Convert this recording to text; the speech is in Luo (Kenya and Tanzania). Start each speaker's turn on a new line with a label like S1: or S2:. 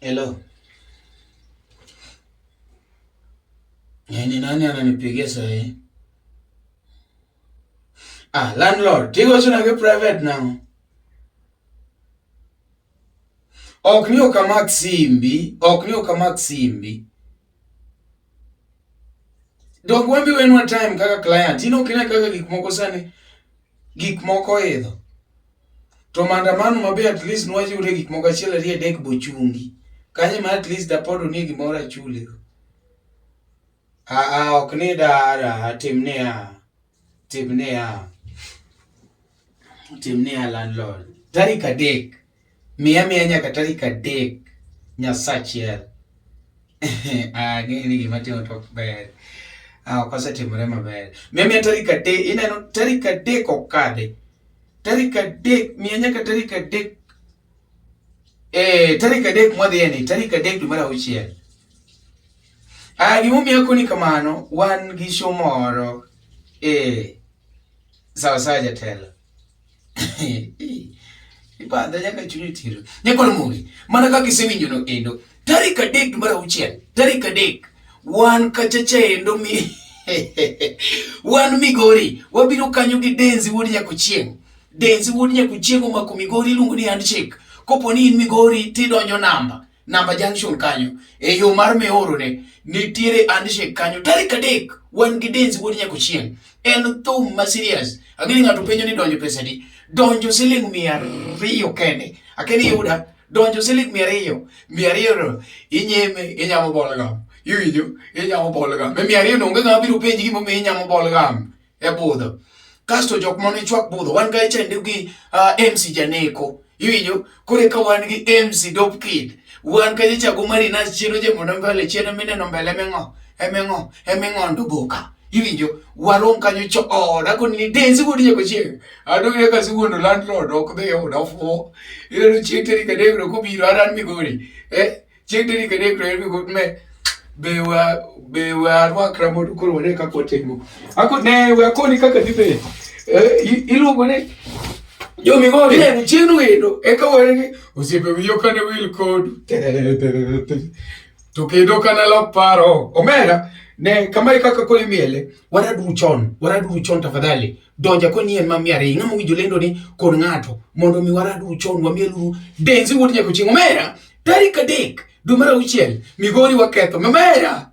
S1: Hello. Eh, ni nani ananipigia saa hii? Ah, landlord, tiko sina ki private now. Ok ni ok amak simbi, ok ni ok amak simbi. Dok wambi wenwa time kaka client. Ino kine kaka gik moko sani gik moko idho. To maandamano mabe at least nwajure gik moko achiel ariyo adek bochungi. Kanyo ma at least apod onie gimoro achuli. Aa, ok ni dara, tim niya, tim niya, tim niya landlord. Tarik adek, miya miya nyaka tarik adek nyasa achiel. Ang'eyo ni gima timo to ok ber. Ah, ok osetimore maber. Miya miya tarik adek, ineno tarik adek okadhe. Tarik adek, miya nyaka tarik adek. Eh, tarik adek mwadhiyeni, tarik adek dwe mar auchiel. Ah, gimomiyo akoni kamano, wan gi show moro e sawasawa jatelo. Ibadha nyaka chunyi tiro. Nyakol muli, mana kaka isewinjo no endo. Tarik adek mar auchiel, tarik adek, wan kachacha endo mi wan Migori, wabiro kanyo gi Denzi wuod Nyakuchieng'. Denzi wuod Nyakuchieng' omako Migori iluongo ni handshake. Kopo ni in Migori tidonjo namba. Namba Junction kanyo e yo mar Meoro ne nitiere handshake kanyo tarik adek wan gi Denz wuod Nyakochieng. En thum ma serious. Ang'eyo ng'ato penjo ni donjo pesa di. Donjo siling mia ariyo kende. Akeni yuda donjo siling mia ariyo. Mia ariyo inyeme inyamo bolgam. Iwinjo? Inyamo bolgam. Mia ariyo no onge ng'ama biro penji gimomiyo inyamo bolgam. e budho kasto jok mane chwak budho wan ga chende gi uh, MC Janeko iwinjo kore ka wan gi MC Dope Kid wan ka jachago mari na chiro je mondo mbele chiro mine no mbele mengo emengo emengo ndo boka iwinjo warom kanyo cho oda ko ni denzi ko diye ko che ado ye ka si wono landlord ok be oda fo iro chete ni ka de ko biro aran mi gori eh chieng' diri kede kre mi kut me be wa be wa arwa kra modu koro wane ka ko timo ako ne we akoni kaka dibe iluongo ne yo mi go ne ni chinu endo e ka were ni osiepe wiyo ka ne wil kod to kendo kana lok paro omera ne kama e kaka kole miele wara duru chon wara duru chon tafadhali donja ko nien ma miare ng'ama wijo lendo ni kod ng'ato mondo mi wara duru chon wa mielu denzi wuod nyako ching omera Tarik adek dwe mar auchiel, Migori waketho. Mamera!